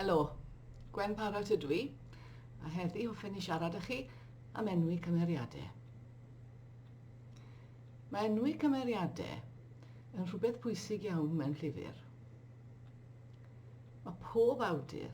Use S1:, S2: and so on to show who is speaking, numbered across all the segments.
S1: Helo, Gwen Parrot ydw i, a heddi hoffen i siarad â chi am enwi cymeriadau. Mae enwi cymeriadau yn rhywbeth pwysig iawn mewn llyfr. Mae pob awdur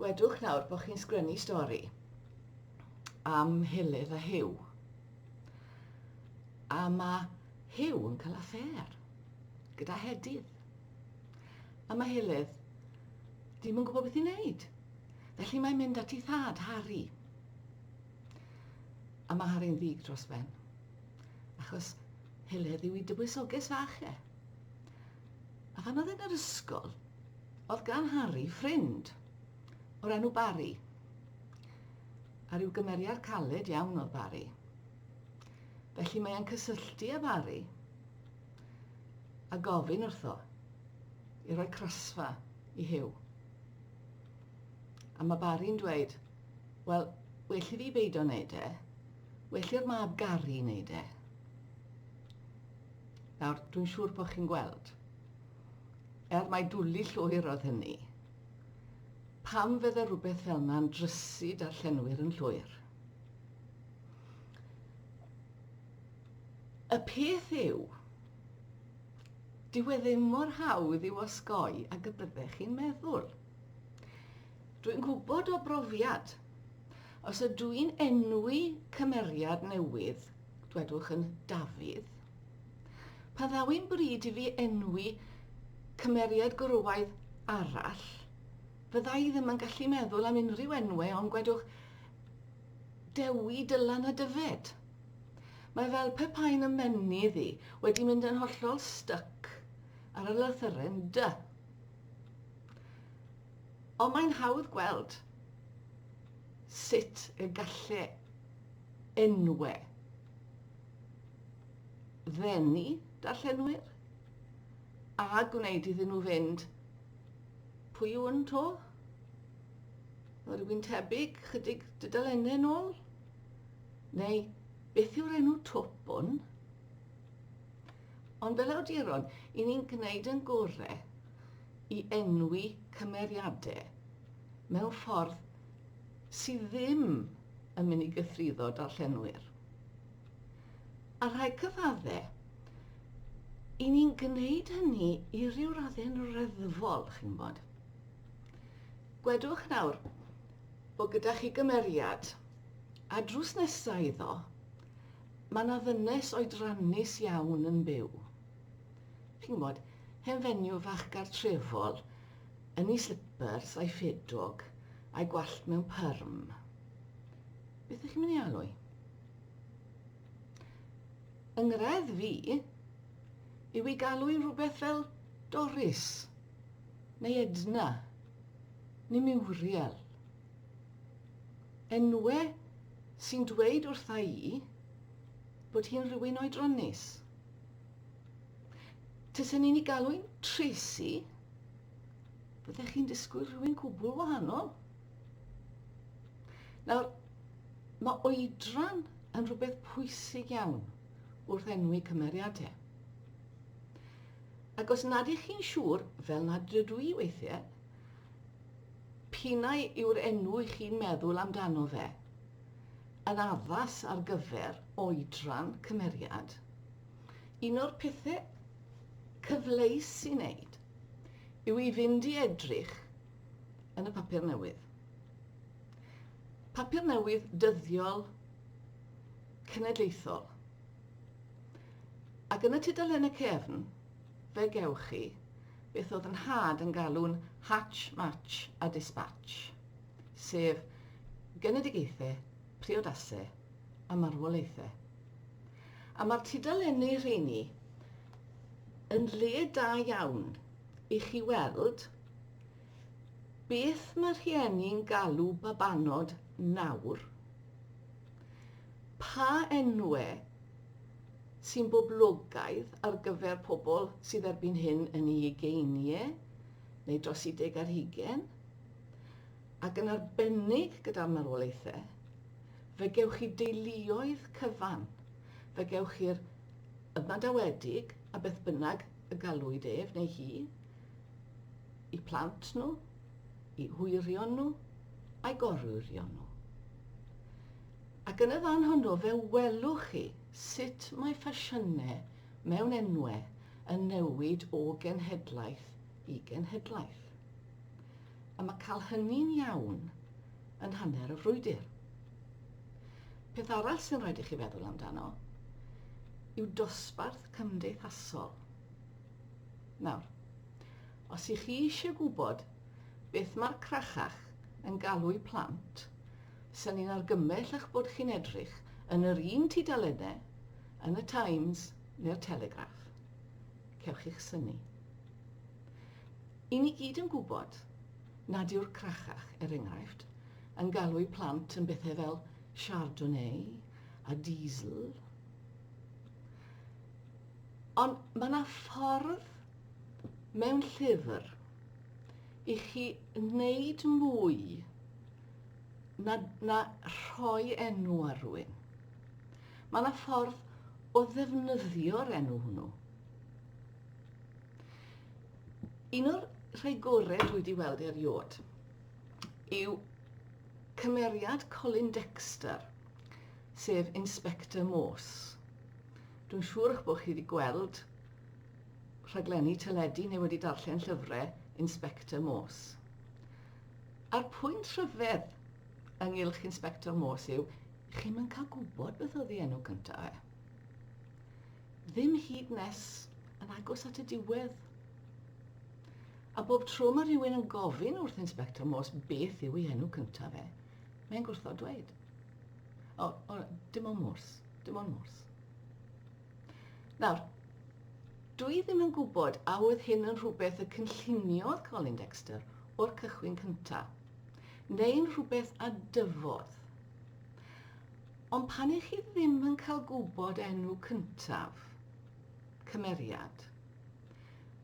S1: Gwedwch nawr bod chi'n sgrennu stori am Hilydd a Hiw. A mae Hiw yn cael affair gyda Hedydd. A mae Hilydd ddim yn gwybod beth i'n neud. Felly mae'n mynd at ei thad, Harry. A mae Harry'n ddig dros ben. Achos Hilydd yw i dywysoges fach e. A phan oedd yn yr ysgol, oedd gan Harry ffrind o'r enw Barry. A rhyw gymeriad caled iawn oedd Barry. Felly mae e'n cysylltu â Barry a gofyn wrtho i roi crasfa i Hugh. A mae Barry'n dweud, wel, well i fi beidio wneud e, well i'r mab Gary wneud e. Nawr, dwi'n siŵr bod chi'n gweld, er mai dwli llwyr oedd hynny, pam fydde rhywbeth fel yna'n drysu darllenwyr yn llwyr. Y peth yw, dyw e ddim mor hawdd i'w osgoi ag y byddech chi'n meddwl. Dwi'n gwybod o brofiad, os ydw i'n enwi cymeriad newydd Dwedwch yn Dafydd, Pa ddaw'n bryd i fi enwi cymeriad gwrywaidd arall, fydda i ddim yn gallu meddwl am unrhyw enwau ond gwedwch Dewi, Dylan a Dyfed. Mae fel pe bai yn ymennydd i wedi mynd yn hollol styc ar y lythyren dy. Ond mae'n hawdd gweld sut y galle enwe. Ddenu darllenwyr a gwneud iddyn nhw fynd pwy yw yn to? Mae rhywun tebyg chydig dydalennau yn ôl? Neu beth yw'r enw twp hwn? Ond fel awduron, i ni'n gwneud yn gore i enwi cymeriadau mewn ffordd sydd ddim yn mynd i gythruddo darllenwyr. A rhai cyfaddau, i ni'n gwneud hynny i ryw raddau'n reddfol, chi'n bod. Gwedwch nawr bod gyda chi gymeriad, a drws nesaf iddo, mae yna ddynes oedrannus iawn yn byw. Chi'n bod, hen fenyw fach gartrefol, Yn ei slipars a'i ffedog, a'i gwallt mewn pyrm. Beth ych chi'n mynd i alw i? Yng nghredd fi, yw i galw i rhywbeth fel Doris, neu Edna, neu Muriel. Enwe sy'n dweud wrtha i bod hi'n rhywun oedronus. Tasen ni'n ei galw i'n Tracy, Byddech chi'n disgwyl rhywun cwbl wahanol. Nawr, mae oedran yn rhywbeth pwysig iawn wrth enwi cymeriadau. Ac os nad ych chi'n siŵr, fel nad ydw i weithiau, pinau yw'r enw i chi'n meddwl amdano fe, yn addas ar gyfer oedran cymeriad, Un o'r pethe cyfleus i neud yw i fynd i edrych yn y papur newydd. Papur newydd dyddiol cenedlaethol. Ac yn y tudalen y cefn, fe gewch chi beth oedd yn had yn galw'n Hatch, Match a Dispatch, sef genedigaethau, priodasau a marwolaethau. A mae'r tudalennau rheiny yn le da iawn i chi weld beth mae rhieni'n galw babanod nawr, pa enwau sy'n boblogaidd ar gyfer pobl sydd erbyn hyn yn eu ugeiniau neu dros 30 ar hugain, ac yn arbennig gyda'r marwolaethau, fe gewch chi deuluoedd cyfan, fe gewch chi'r ymadawedig, a beth bynnag y galwyd ef neu hi, i plant nhw, i hwyrion nhw, a'i gorwyrion nhw. Ac yn y fan honno fe welwch chi sut mae ffasiynau mewn enwau yn newid o genhedlaeth i genhedlaeth. am y cael hynny'n iawn yn hanner y frwydr. Peth arall sy'n rhaid i chi feddwl amdano yw dosbarth cymdeithasol. Nawr, os i chi eisiau gwybod beth mae'r crachach yn galw'u plant, sy'n ni'n argymell eich bod chi'n edrych yn yr un tudalennau yn y Times neu'r Telegraph. Cewch chi'ch syni. I ni gyd yn gwybod nad yw'r crachach, er enghraifft, yn galw'u plant yn bethau fel Chardonnay a Diesel. Ond mae yna ffordd mewn llyfr i chi wneud mwy na, na rhoi enw ar rhywun. Mae yna ffordd o ddefnyddio'r enw hwnnw. Un o'r rhai gorau dwi wedi weld erioed yw cymeriad Colin Dexter, sef Inspector Morse. Dwi'n siŵr eich bod chi wedi gweld rhaglenni teledu neu wedi darllen llyfrau Inspector Morse. A'r pwynt rhyfedd ynghylch Inspector Morse yw, chi'n yn cael gwybod beth oedd ei enw cyntaf e. Ddim hyd nes yn agos at y diwedd. A bob tro mae rhywun yn gofyn wrth Inspector Morse beth yw ei enw cyntaf fe, mae'n gwrtho dweud. O, o dim ond Morse, dim ond Morse. Nawr, dwi ddim yn gwybod a oedd hyn yn rhywbeth y cynlluniodd Colin Dexter o'r cychwyn cyntaf, neu'n rhywbeth a dyfodd. Ond pan i chi ddim yn cael gwybod enw cyntaf, cymeriad,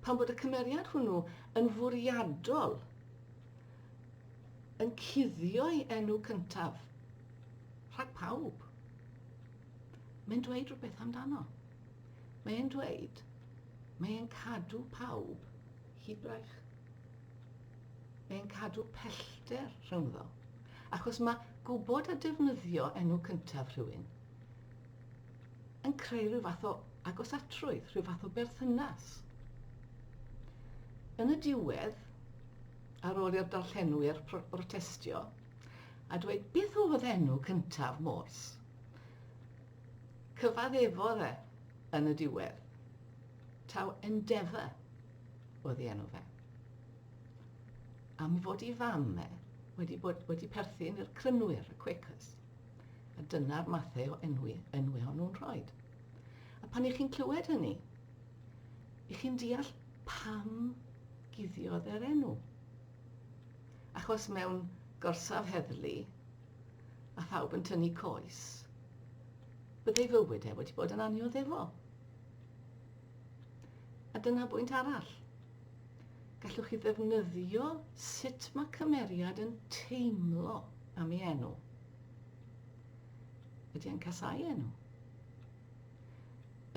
S1: pan bod y cymeriad hwnnw yn fwriadol yn cuddio'i enw cyntaf rhag pawb, mae'n dweud rhywbeth amdano. Mae'n dweud, mae'n cadw pawb hyd braich. Mae'n cadw pellter rhyngddo. Achos mae gwybod a defnyddio enw cyntaf rhywun yn creu rhyw fath o agosatrwydd, rhyw fath o berthynas. Yn y diwedd, ar ôl i'r darllenwyr protestio a dweud beth oedd enw cyntaf Morse, cyfaddefodd e yn y diwedd. Taw Endeavour oedd ei enw fe. Am fod i fam e wedi, bod, wedi perthyn i'r crynwyr, y Quakers. A dyna'r mathau o enwi, enwi o'n nhw'n rhoi. A pan i chi'n clywed hynny, i chi'n deall pam guddiodd e'r enw. Achos mewn gorsaf heddlu, a phawb yn tynnu coes, byddai fywyd e wedi bod yn aniodd efo. A dyna bwynt arall. Gallwch chi ddefnyddio sut mae cymeriad yn teimlo am ei enw. Ydy e'n casau enw?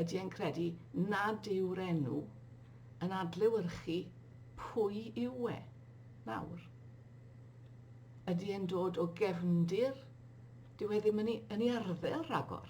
S1: Ydy e'n credu nad yw'r enw yn adlewyrchu pwy yw e nawr? Ydy e'n dod o gefndir? Dyw e ddim yn ei, yn ei arddel rhagor.